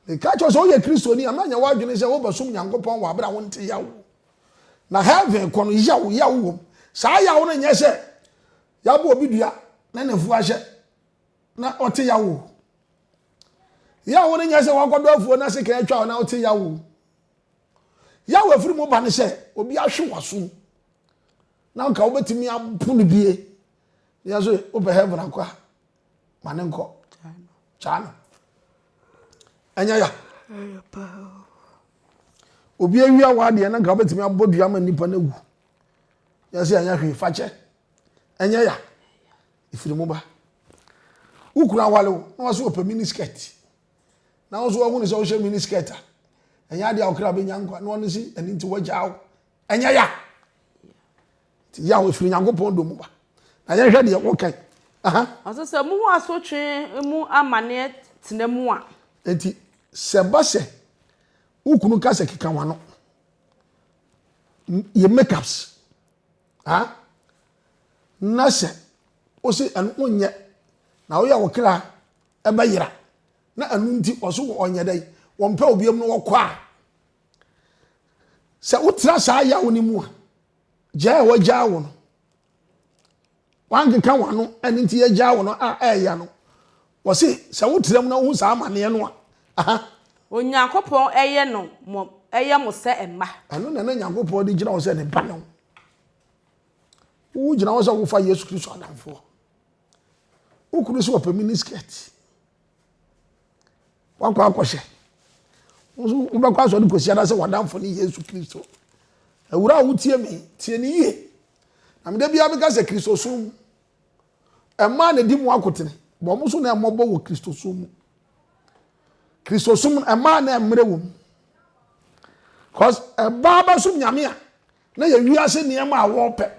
Meka kyerɛ sɛ woyɛ Kristoni a, mɛnyɛ w'adwene sɛ wobɛsom Nyankopɔn wɔ abere a wonte yaw. Na heaven kɔ no yaw yaw wom. Saa yaw no nyɛ sɛ yɛabɔ obi dua na ne fuo ahyɛ na ɔte yaw o. Yaw no nyɛ sɛ wakɔdɔ afuo na sika atwa na ɔte yaw o. Yaw afiri mu ba no sɛ obi ahwe w'asom. Na nka wobɛtumi apo no bie yɛ so wopɛ heaven akɔ a ma ne nkɔ kyaa no ɛnyɛ ya obi awia wɔ adeɛ na nka wobɛtumi abɔ dua ma nnipa no awu yɛ sɛ ɛnyɛ hwee fakyɛ ɛnyɛ ya ɛfiri mu ba wokunu awale wo na wase wɔpɛ mini skirt na wo so wahunu sɛ wohyɛ mini skirt a ɛnyɛ adeɛ a wokra bɛnya nkwa na ɔno si ɛno nti wagyaa wo ɛnyɛ ya nti yaw ɛfiri nyankopɔn dɔ mu ba na yɛnhwɛ deɛ wokan aha ɔsɛ sɛ muhu asotwe mu amaneɛ tena mu a nti sɛ ba sɛ wo kunu ka sɛ keka wano yɛ makeups ha na sɛ wo se ɛno wonyɛ na woyɛ wo kra ɛbɛyera na ɛno nti ɔso wɔ ɔnyɛ dɛn wɔmpɛ obiam no wɔkɔ a Sɛ wotra saa yaw no mu a, gyaa a wɔagyaa wo no, wankeka w'ano ɛno nti yɛgyaa wo no a ɛɛya no, wɔse sɛ wotra mu na wohu saa amanneɛ no a, aha. Onyankopɔn yɛ no mo yɛ mo sɛ mma. Ɛno na na Nyankopɔn de gyina hɔ sɛ ne ba no. Wogyina hɔ sɛ wofa Yesu Kristo adamfoɔ. Wo kunu sɛ ɔpɛ mini skirt. wakɔ akɔhyɛ wobɛkɔ asɔre kɔsi ada sɛ wadamfo ne yesu kristo awura a wotie me tie ne yie na meda biara meka sɛ kristosom mu ɛmaa na di mu akotene bɔ mo so na ɛmmɔbɔ wɔ kristosom mu kristosom no ɛmaa na ɛmmerɛ wɔ mu cause ɛbaa bɛsom nyame a na yɛ wiase nneɛma a wɔpɛ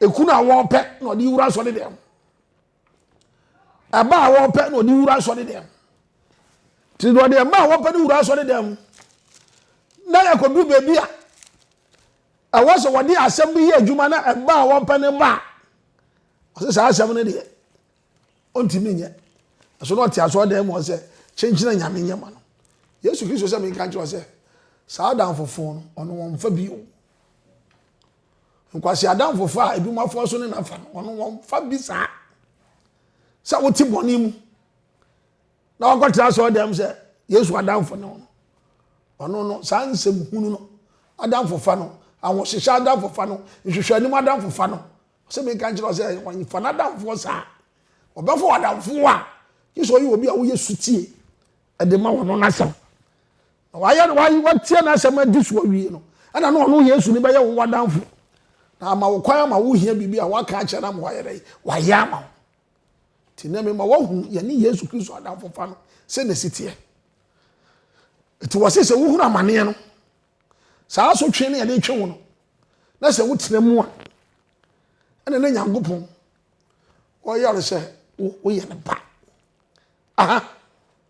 ekunu a wɔpɛ na ɔde wura asɔre dɛm ɛma a wɔpɛ na ɔde wura asɔre dɛm nti na ɔde ɛma a wɔpɛ no wura asɔre dɛm na yɛkɔduru baabi a ɛwɔ sɛ wɔde asɛm no yɛ adwuma na ɛma a wɔpɛ no ba a ɔsɛ saa asɛm no deɛ ɔntumi nyɛ ɛso na ɔte asɔre dɛm wɔ sɛ kyenkyena nyame nyɛ ma no yesu kristo sɛ menka nkyerɛ sɛ saa adamfofo no ɔno wɔmfa bio Nkwasi adamfo fa a ebinom afɔw so ne n'afa no, wɔn wɔn fa bi saa. Sɛ wote bɔne mu na wakɔtena asɔre dɛm sɛ Yesu adamfo ne wɔn. Ɔno no saa nsɛm hunu no adamfo fa no, ahohyehyɛ adamfo fa no, nhwehwɛ anim adamfo fa no. Sɛ meka nkyerɛ sɛ wɔn fa n'adamfoɔ saa. Ɔbɛfo adamfo a, gye sɛ ɔyɛ obi a woyɛ sutie ɛde ma wɔn no n'asɛm. Na wayɛ no wae, watie n'asɛm adi so awie no, ɛna na ɔno Yesu ne bɛyɛ wo wadamfo. Na ama wo kwan ama wohia biribi a waka akyerɛ no ama wayɛ dɛ, wayɛ ama wo. Nti nɛ mema woahunu yɛne Yesu Kristo adamfofa no sɛ na ɛsi teɛ. Nti wɔ se sɛ wohunu amaneɛ no, saa asotwe no yɛde twe wo no, na sɛ wotena mu a, ɛna na Nyankopɔn ɔyɛ ɔre sɛ woyɛ ne ba. Aha.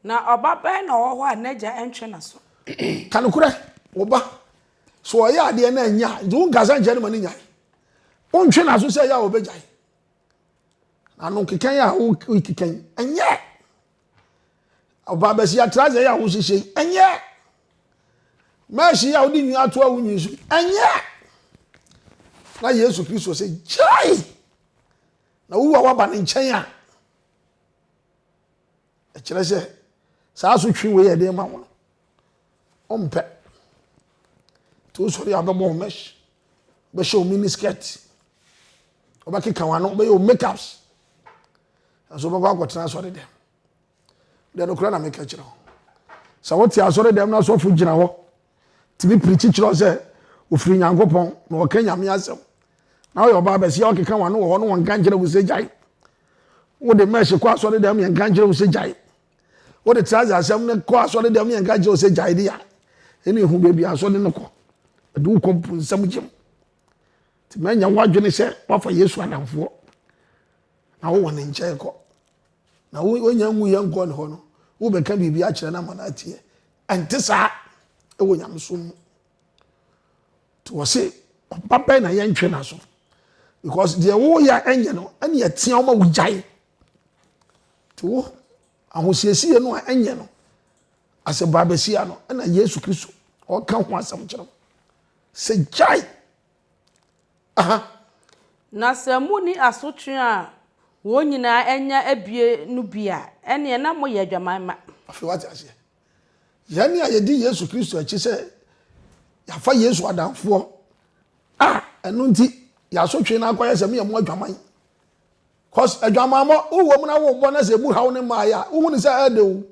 Na ɔba bɛn na ɔwɔ hɔ a n'agya ntwe n'aso? Ka nokorɛ, wo ba, sɛ ɔyɛ adeɛ na ɛnyɛ a, nti wonka sɛ nkyɛ no ma no nyae. Wontwe n'aso sɛ ɛyɛ a ɔbɛgyae. Na no nkekɛn a wokekɛn, ɛnyɛ. Ɔba bɛsi atrase yi a wohyehyɛ yi, ɛnyɛ. Mɛɛhye yi a wode nwi ato a wonwi so yi, ɛnyɛ. Na Yesu Kristo sɛ, gyae! Na wowu a woaba ne nkyɛn a, Ɛkyerɛ sɛ saa asotwe wei a ɛde ma wo no, ɔmpɛ. Nti wosɔre a wobɛbɔ wo mesh, wobɛhyɛ wo mini skirt, wobɛkeka w'ano, wobɛyɛ wo makeups. Nanso wobɛkɔ akɔtena asɔre dɛm. Deɛ nokora na meka kyerɛ wo. Sɛ wote asɔre dɛm na asɔfo gyina hɔ tumi pirikyi kyerɛ sɛ ɔfiri Nyankopɔn na ɔka Nyame asɛm. Na woyɛ ɔbaa bɛseɛ a ɔkeka w'ano wɔ hɔ no wɔnka nkyerɛ wo sɛ gyae. Wode mɛhye kɔ asɔre dɛm yɛnka nkyerɛ wo sɛ gyae. Wode trase asɛm no kɔ asɔre dɛm yɛnka nkyerɛ wo sɛ gyae de a ɛne ɛhu baabi asɔre no kɔ. Ɛde wo kɔ mponsam gyem. Nti mɛnyɛ w'adwene sɛ woafa Yesu adamfoɔ na wowɔ ne nkyɛn kɔ. Na wonya ngu yɛ nkɔ ne hɔ no wobɛka biribi akyerɛ no ama no ateɛ. Ɛnte saa wɔ nyamesom mu. Nti wɔse ɔba bɛn na yɛntwe n'aso because deɛ woyɛ a ɛnyɛ no ɛne ɛteɛ wo ma wogyae. Nti wo ahosiesie no a ɛnyɛ no asɛ baabasia no ɛna Yesu Kristo ɔka ho asɛm kyerɛ wo sɛ gyae Aha. Na sɛ monni asotwe a wɔn nyinaa anya abue no bi a, ɛnneɛ na moyɛ adwaman mma. Afei wate aseɛ. Yɛn a yɛdi Yesu Kristo akyi sɛ yɛafa Yesu adamfoɔ a ɛno nti yɛasotwe no akɔyɛ sɛ moyɛ mo adwaman. Cause adwamammɔ wowɔ mu na worebɔ na sɛ ɛbu haw ne mmaeɛ a wohu ne sɛ ɛyɛ de o.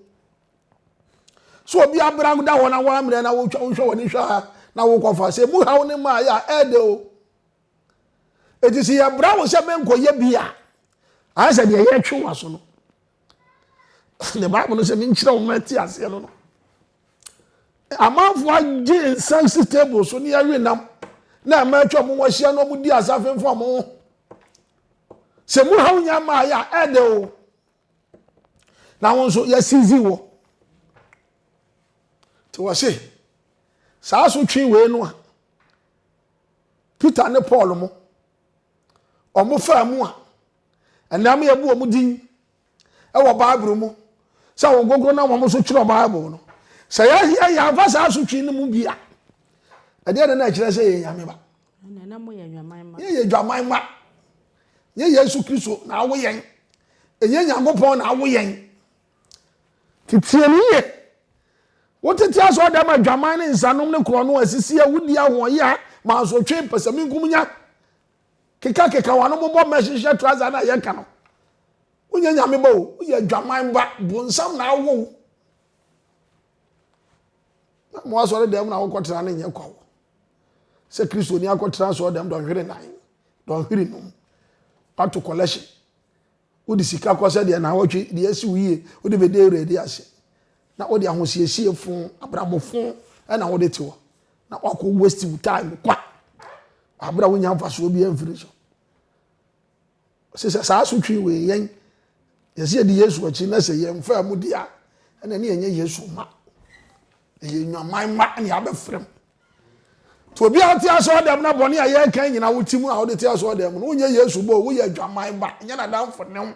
so obi abra da hɔ na wɔammerɛ na wotwa wohwɛ wɔn hwɛ a na wokɔfa sɛ mu haw ne maa yɛ a ɛɛdɛ o eti sɛ yɛbra wo sɛ menkɔyɛ bi a ayɛ sɛ deɛ yɛtwe wo aso no ne bible no sɛ menkyerɛ wo ma ti aseɛ no no amanfoɔ agye nsa si table so ne yɛwe nam na ɛma atwa mu wɔahyia na wɔdi asafemfo ɔmo ho sɛ mu haw nya maa yɛ a ɛɛdɛ o na wo nso yɛasizi wɔ nti wɔse saa so twe wei no a peter ne paul mo wɔfaa mu a ɛnam yɛbu wɔn din wɔ bible mu sɛ wɔn gogoro na wɔn so twerɛ bible no sɛ yɛahia yɛamfa saa so twe no mu bi a ɛdeɛ ne na ɛkyerɛ sɛ yɛ nyame ba Ɛnna na moyɛ adwaman mma. Yɛyɛ adwaman mma. Ɛnyɛ Yesu Kristo na awo yɛn. Ɛnyɛ Nyankopɔn na awo yɛn. Teteɛ no yie. Wotete asɔɔdam adwaman ne nsanom ne korɔno asisi awudi ahoɔyea mansotwe mpɛsɛmenkomunya kekakeka wano bobɔ mmɛ hyehyɛ traza na yɛka no. Wonyɛ nyame ba o. Woyɛ adwaman ba. Bonsam na awo wo. na mo asɔre dɛm na wokɔtena no nyɛ kwawo sɛ kristoni akɔtena asɔre dɛm dɔnhwere nan dɔnhwere num wato collection wode sika kɔ sɛ deɛ naawɔtwe deɛ asi wo yie wode bɛdi awurade ase na wode ahosiesie fo abrabɔ fo ɛna wode te hɔ na wakɔ waste wo time kwa abere a wonya mfasoɔ bi amfiri so Ɔse sɛ saa asotwee wei yɛn yɛse yɛdi Yesu akyi na sɛ yɛnfaa mu di a ɛna ne yɛnyɛ Yesu mma. Yɛyɛ nnwaman mma na yɛabɛfrem. Nti obiara ɔte asɔɔdɛm na bɔne a yɛkan nyina wote mu a wode te asɔɔdɛm mu no wonyɛ Yesu mma o, woyɛ adwaman ba, nyɛ n'adamfo ne ho.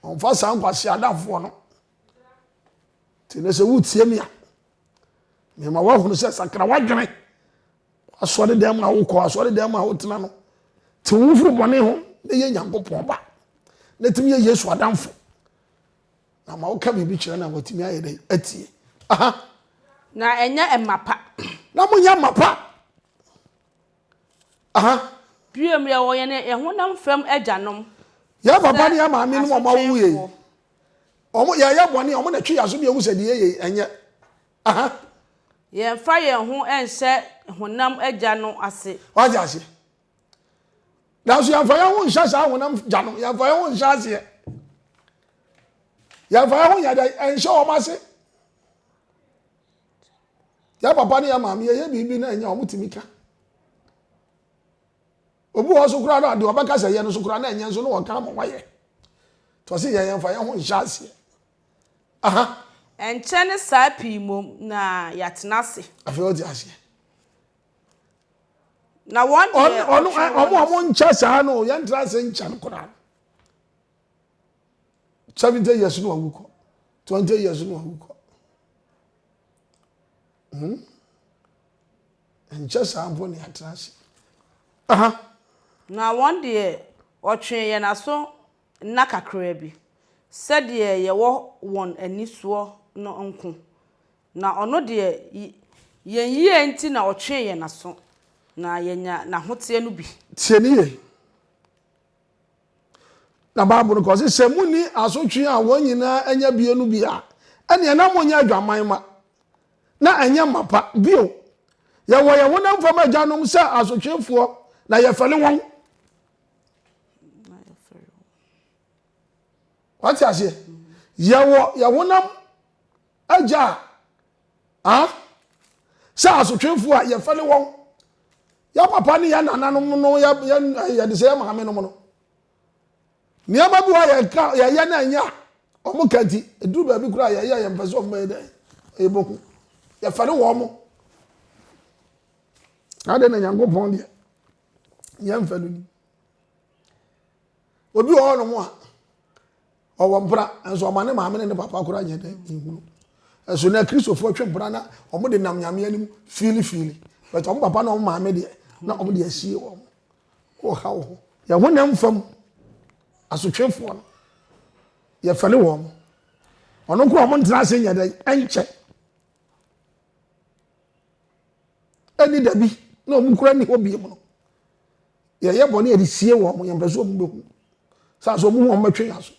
Ɔmfa saa nkwasea adamfoɔ no. Nti nɛ sɛ wotie me a, mema woahunu sɛ sakra w'adwene W'asɔredan mu a wokɔ, asɔredan mu a wotena no, tew wo ho firi bɔne ho na yɛ Nyankopɔn ba, na tumi yɛ Yesu adamfo. Na ma woka biribi kyerɛ no a, watumi ayɛ dɛn? Atie. Aha. Na ɛnyɛ mma pa. Na monyɛ mma pa. Aha. Biom, yɛwɔ yɛn yɛn honam fam agyanom. Yɛn papa ne yɛn maame no wɔn awo yɛ. Wɔn yɛyɛ bɔne, wɔn na ɛtwe yɛn aso bi ehu sɛ deɛ yɛyɛ ɛnyɛ. Aha. Yɛmfa yɛn ho nhyɛ honam agya no ase. Wate ase. Nanso yɛmfa yɛn ho nhyɛ saa honam gya no, yɛmfa yɛn ho nhyɛ aseɛ. Yɛmfa yɛn ho nyɛ dɛ, ɛnhyɛ wɔn ase. Yɛ papa ne yɛ maame yɛyɛ biribi na ɛnyɛ wɔn tumi ka. Obi wɔ so koraa no adeɛ ɔbɛka sɛ yɛ no so koraa na ɛnyɛ nso na wɔka ama wɔayɛ. Tɔsi yɛ yɛmfa yɛn ho nhyɛ aseɛ. Aha. Ɛnkyɛ ne saa pii mmom na yɛatena ase. Afei wote aseɛ. Na wɔn deɛ ɔno ɔtwe wɔn ɔmo ɔmo nkyɛ saa no yɛntra ase nkyɛ no koraa. Seventy years no awu kɔ. Twenty years no awu kɔ. Hmm? Nkyɛ saa mpo ne yɛatra ase. Aha. Na wɔn deɛ ɔtwe yɛn aso nna kakraa bi, sɛdeɛ yɛwɔ wɔn ani soɔ no nko, na ɔno deɛ yɛn yie nti na ɔtwee yɛn aso, na yɛanya n'ahoteɛ no bi. Tie no yie. Na Bible no ka ɔse, sɛ monni asotwe a wɔn nyinaa anya bie no bi a, ɛneɛ na monyɛ adwaman ma, na ɛnyɛ mapa. Bio, yɛwɔ yɛn honam fam agyanom sɛ asotwefoɔ, na yɛfɛre wɔn. wate aseɛ yɛwɔ yɛ honam agya a sɛ asotwefoɔ a yɛfɛ ne wɔn yɛ papa ne yɛ nananom no yɛde sɛ yɛ maame nom no nneɛma bi wɔ yɛka yɛyɛ no ɛnyɛ a wɔn ka nti ɛduru baabi koraa yɛyɛ yɛn mpɛ sɛ wɔn bɛyɛ dɛn ɛbɛhu yɛfɛ ne wɔn mo adɛn na nyankopɔn deɛ yɛn mfɛ no ni obi wɔ hɔ nom a ɔwɔ mpra nso ɔma ne maame ne ne papa koraa nyɛ dɛn nhunu ɛso na kristofoɔ twe mpra na wɔn de nam nyame anim fiili fiili bɛtɛ wɔn papa na wɔn maame deɛ na wɔn de asie wɔn wɔ ha wɔ hɔ yɛn ho nam fam asotwefoɔ no yɛfɛle wɔn ɔno nko a wɔn ntena ase nyɛ dɛn ɛnkyɛ ɛne dabi na wɔn kura ne hɔ bie mu no yɛyɛ bɔne yɛde sie wɔn yɛn mpɛ sɛ wɔn bɛhu saa so wɔn ho wɔn bɛtwe yɛn so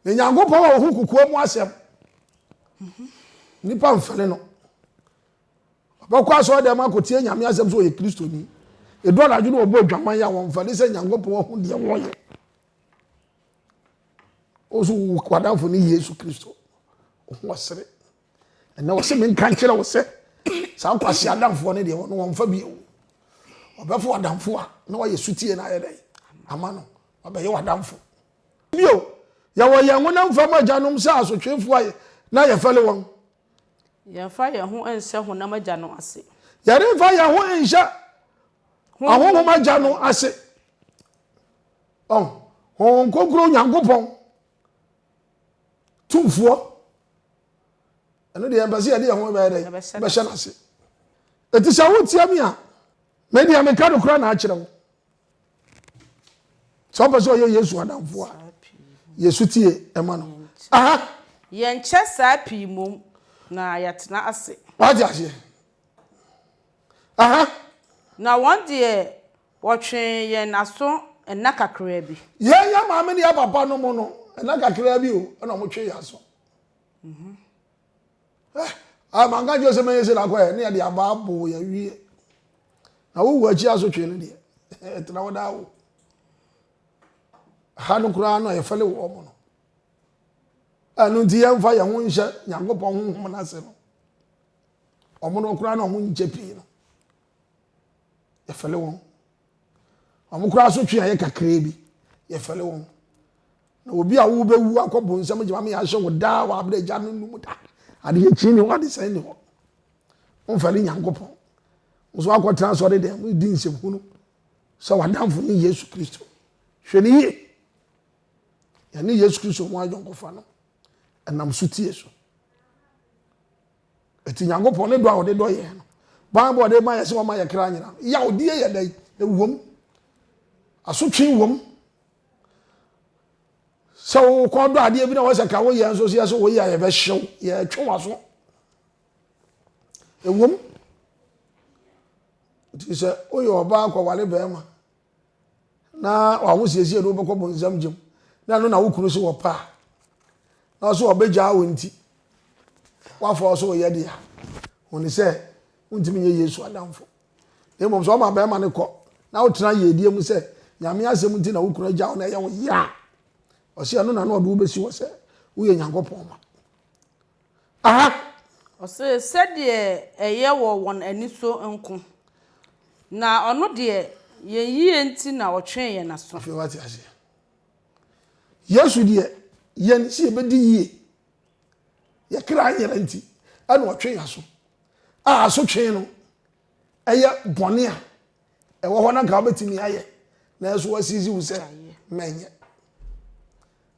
na nyankopɔn wɔ ho kokoa mu asɛm nipa mfɛle no ɔbɛkɔ asɔre dɛm akɔtie nyame asɛm sɛ ɔyɛ kristoni ɛdu anadwo no ɔbɔ adwaman yɛ a wɔmfɛle sɛ nyankopɔn wahu deɛ wɔyɛ ɔso wadamfo ne yesu kristo ɔho ɔsere Ɛnna ɔse menka nkyerɛ wo sɛ saa nkwasi adamfoɔ no deɛ ɔno wɔmfa bi o ɔbɛfo adamfo a na wayɛ sutie no ayɛ dɛn ama no wabɛyɛ wadamfo bio yɛwɔ yɛn honam fam agyanom sɛ asotwefoɔ a na yɛfɛle wɔn yɛmfa yɛn ho nhyɛ honam agya no ase yɛremfa yɛn ho nhyɛ ahonhom agya no ase ɔn honhom kronkron nyankopɔn tumfoɔ ɛno deɛ mpɛ sɛ yɛde yɛn ho bɛyɛ dɛ bɛhyɛ no ase ɛti sɛ wotia me a medeɛ meka no kora na akyerɛ wo sɛ wopɛ sɛ ɔyɛ yesu adamfo a yesu tie ɛma no aha yɛnkyɛ saa pii mom na yɛtena ase wate aseɛ aha na wɔn deɛ Wɔtwee yɛn aso nna kakraa bi. Yɛn, yɛn maame ne yɛn papa nom no, nna kakraa bi o, ɛna wɔtwee yɛn aso. Eh, ah, manka nkyerɛ sɛ mɛyɛ sɛ nakɔɛ, ne yɛde aba aboo yɛn wie. Na wowu akyi asotwee no deɛ, ɛtena hɔ daa o. Ha no koraa no a yɛfɛle wɔ ɔmo no. Ɛno nti yɛmfa yɛn ho nhyɛ Nyankopɔn honhom no ase no. Ɔmo no koraa na ɔmo nkyɛ pii no. yɛfɛle wɔn wɔn koraa asotwe a yɛ kakraa bi yɛfɛle wɔn na obi a wobɛwu akɔ bonsam gyama me yɛahyɛ wo daa wɔ abrɛ agya no num da adeɛ kyi ne hɔ adesɛe ne hɔ womfɛle nyankopɔn nso akɔtena asɔre dɛn mu di nsɛm hunu sɛ wadamfo ne yesu kristo hwɛ ne yie yɛne yesu kristo ho ayɔnkofa no ɛnam so tie so Enti Nyankopɔn ne dɔ a ɔde dɔ yɛn no, ban a ɔde ma yɛn sɛ ɔma yɛn kra nyera no, yawdie yɛ dɛn? Ɛwom, asotwe wom. Sɛ wokɔ dɔ adeɛ bi na wɔsɛ ka woyɛ nso sɛ sɛ woyɛ a yɛbɛhyew, yɛtwe w'aso. Ɛwom, nti sɛ woyɛ ɔbaa kɔware bɛrima na w'ahosiesie de wobɛkɔ bonsam gyam na ɛno na wo kunu so wɔpɛ a na ɔso ɔbɛgyaa wo nti woafa ɔso ɔyɛ deɛ a hone sɛ wontumi nyɛ yesu adamfo na mmom sɛ ɔma bɛrima no kɔ na wotena yiedie mu sɛ nyame asɛm nti na wo kunu agya wo na ɛyɛ wo yɛ a ɔsɛ ɛno na na ɔde wobɛsi hɔ sɛ woyɛ nyankopɔn ma Aha! Ɔse, sɛdeɛ ɛyɛ wɔ wɔn ani so nko, na Ɔno deɛ yɛn yie nti na Ɔtwee yɛn aso. Afei woate aseɛ? Yesu deɛ, yɛn sɛ yɛbɛdi yie, yɛn kra nyera nti, ɛna Ɔtwe yɛn aso. A asotwee no, ɛyɛ bɔne a ɛwɔ hɔ na nka wobɛtumi ayɛ, nanso wɔasiisi wo sɛ mɛnyɛ.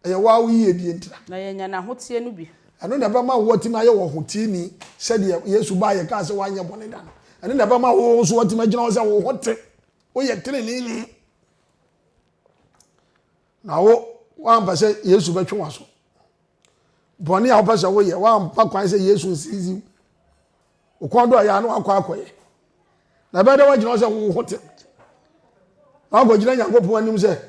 Ɛyɛ woa wo yiyedie ntira. Na yɛanya n'ahoteɛ no bi. Ɛno na ɛbɛma wo woatumi ayɛ ɔhoteeni sɛdeɛ Yesu baeɛ kaa sɛ woanyɛ bɔne da no. Ɛno na ɛbɛma wo nso woatumi agyina hɔ sɛ wo ho te, woyɛ teneneeni. Na wo, woampɛ sɛ Yesu bɛtwe w'aso. Bɔne a wopɛ sɛ woyɛ, woampa kwan sɛ Yesu nsiizi wo. Wo kɔn do a yɛ a na wakɔ akɔyɛ. Na ɛbɛyɛ dɛ woagyina hɔ sɛ wo ho te. Na wakɔgyina Nyankopɔn anim sɛ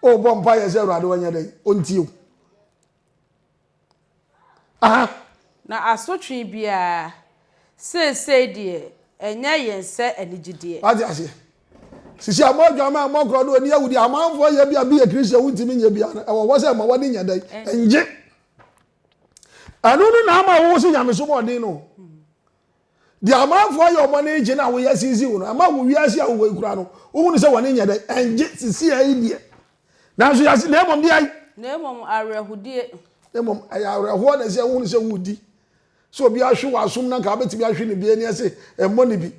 O bɔ mpaeɛ sɛ Awurade ɔnyɛ dɛn? Ɔntie wo. Aha. Na asotwe biara, seesei deɛ, ɛnyɛ yɛn sɛ anigyedeɛ. Wate aseɛ? Sisi a mo adwaman a mokorɔ no ɔni awudie amanfoɔ yɛ bi a bi yɛ Christian wontumi nyɛ biara no, ɛwɔ hɔ sɛ ɛma w'ani nyɛ dɛn? Ɛngye. Ɛno no na ama wowo se nyamesom ɔden no. Deɛ amanfoɔ ayɛ wɔn ani gye na wɔyɛ sisi wɔn no, ama wɔ wiase a wɔwɔ yi koraa no, wohunu sɛ wɔn ani nyɛ dɛ, ɛngye sisi a yi deɛ. Nanso yɛse, na mmom deɛ ayi. Na mmom awerɛhodie. Na mmom ɛyɛ awerɛhoɔ na ɛsɛ wohunu sɛ wodi. Sɛ obi ahwe wɔ asom na nka wobɛtumi ahwe no bi ani ɛse ɛmmɔ no bi.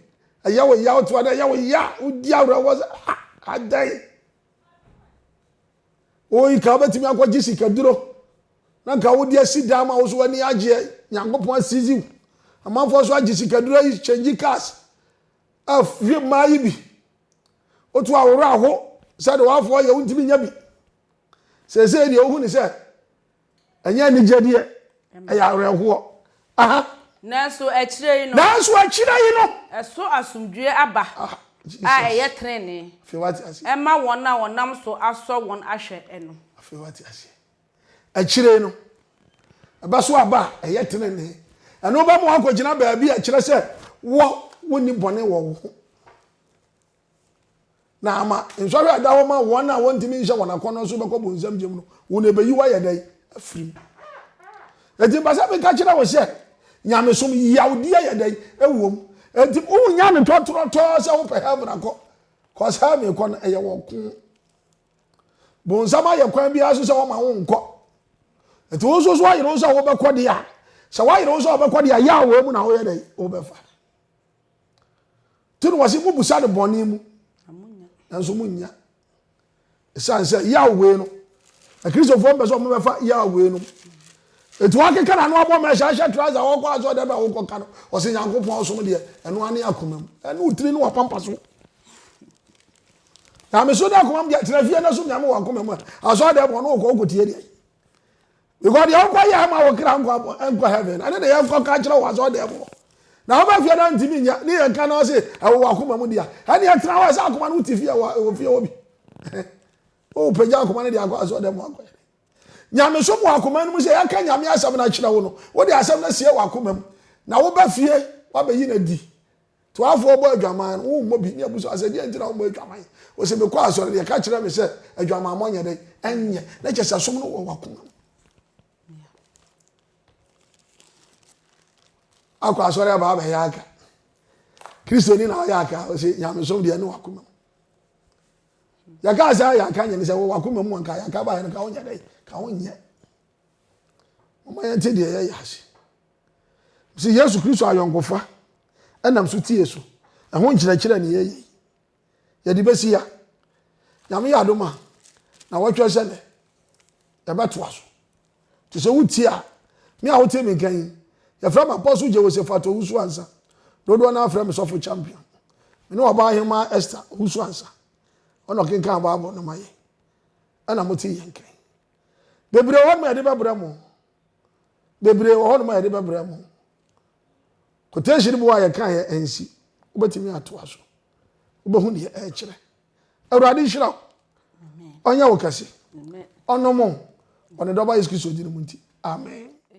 Ɛyɛ wo ya, wote hɔ na ɛyɛ wo ya, wodi awerɛhoɔ sɛ ah, adɛn. Oi nka wobɛtumi akɔgye sikaduro na nka wode asi dan ma wo so w'ani agyeɛ nyankopɔn asisi wo amanfoɔ so agye sikaduro ayi kyɛngyi cars ahwe mmaa yi bi woto aworɔ aho sɛdeɛ wafoɔ yɛ wontumi nya bi seesei deɛ wohu ne sɛ Ɛnyɛ anigyɛdeɛ, ɛyɛ awerɛhoɔ. Aha. Nanso akyire yi no. Nanso akyire yi no. Ɛso asomdwoeɛ aba ah, a ɛyɛ tenenee. Afei wate aseɛ. Ɛma wɔn a wɔnam so asɔ wɔn ahwɛ no. Afei wate aseɛ. Akyire yi no. Ɛbɛso aba a ɛyɛ tenenee. Ɛno bɛma wɔakɔgyina baabi a ɛkyerɛ sɛ wɔ wonni bɔne wɔ wo ho. na ama nsɔhwɛ a ɛda hɔ ma wɔn a wɔntumi nhyɛ wɔn akɔnnɔ so bɛkɔ bonsam gyam no, wɔn ɛbɛyi wo ayɛ dɛn afiri mu. Enti mpɛ sɛ meka kyerɛ wo sɛ nyamesom yawdi ayɛ dɛn ɛwɔ mu. Enti wonya no tɔtorɔtɔɔ sɛ wopɛ heaven akɔ cause heaven kɔ no ɛyɛ wɔ ko. Bonsam ayɛ kwan biara so sɛ wɔma wo nkɔ. Enti wo nso so ayere wo sɛ wobɛkɔ deɛ a sɛ woayere wo sɛ wobɛkɔ deɛ a yɛ a wɔn mu na woyɛ dɛn wobɛfa. nti no wɔse mobusa no bɔne mu nanso monnya ɛsiane sɛ yaw wei no akristofoɔ mpɛ sɛ ɔmo bɛfa yaw wei no ɛti wakeka na no abɔ mɛhyɛ ahyɛ trasa wɔkɔ asɛ ɔdɛ bɛ wokɔka no ɔsɛ nyankopɔn ɔsom deɛ ɛno ane akoma mu ɛne wotiri ne wapampa so na meso de akoma mu deɛ tena fie no so nyame wɔ akoma mu a asɔ ɔdɛ bɔ no wokɔ wokɔtie deɛ Because deɛ wokɔ yɛ ama wo kra nkɔ abɔ nkɔ heaven ɛne deɛ yɛnkɔ ka kyerɛ wɔ asɔ deɛ mu na wobɛ fie na ntumi nyɛ ne yɛn ka na ɔse ɛwɔ wakoma mu dia ɛne ɛtena hɔ ɛsɛ akoma no wote fie ɛwɔ ɛwɔ fie hɔ bi o pagya akoma no deɛ akɔ asɔ deɛ mu akɔ yɛ nyame so mu akoma no mu sɛ yɛka nyame asɛm no akyerɛ wo no wode asɛm no asie wɔ akoma mu na wobɛ fie wabɛyi no adi Toafoɔ bɔ adwaman no, wommɔ bi ne abusua sɛ deɛ nti na wommɔ adwaman. Ɔse mekɔ asɔre deɛ ka kyerɛ me sɛ adwamammɔ nyɛ dɛn ɛnyɛ na kyɛ sɛ som no wɔ wakoma mu. Akɔ asɔre aba abɛyɛ aka. Kristoni na ɔyɛ aka ɔse nyamesom deɛ ne wakoma mu. Yɛka sɛ ayɛ aka nyɛ ne sɛ wɔ wakoma mu anka yɛaka baeɛ no ka wonyɛ dɛn ka wonyɛ. Moma yɛnte deɛ yɛyɛ ase. Mese Yesu Kristo ayɔnkofa ɛnam so tie so. Ɛho nkyerɛkyerɛ ne yɛyɛ yi. Yɛde bɛsi ya. Nyame yɛ adom a, na wɔtwɛ sɛ nɛ. Yɛbɛtoa so. Te sɛ wotie a, me a wote me nka yi, yɛfrɛ me Apostle Jehoshaphat Owusu Ansa. Dodoɔ no afrɛ me Sɔfo Champion. Me ne ɔbaa hemaa Esther Owusu Ansa. Ɔna ɔkenkan Bible no ma yɛ. Ɛna mote yɛn nka yi. Bebree wɔ hɔ ma yɛde bɛbrɛ mo. bebree wɔ hɔnom a yɛde bɛbrɛ mo quotation mu a yɛka yɛ ɛnsi wobɛtumi atoa so wobɛhu deɛ ɛrekyerɛ awurade nhyira wo ɔnyɛ wo kɛse ɔnom ɔne dɔba yesu kristo din mu nti amen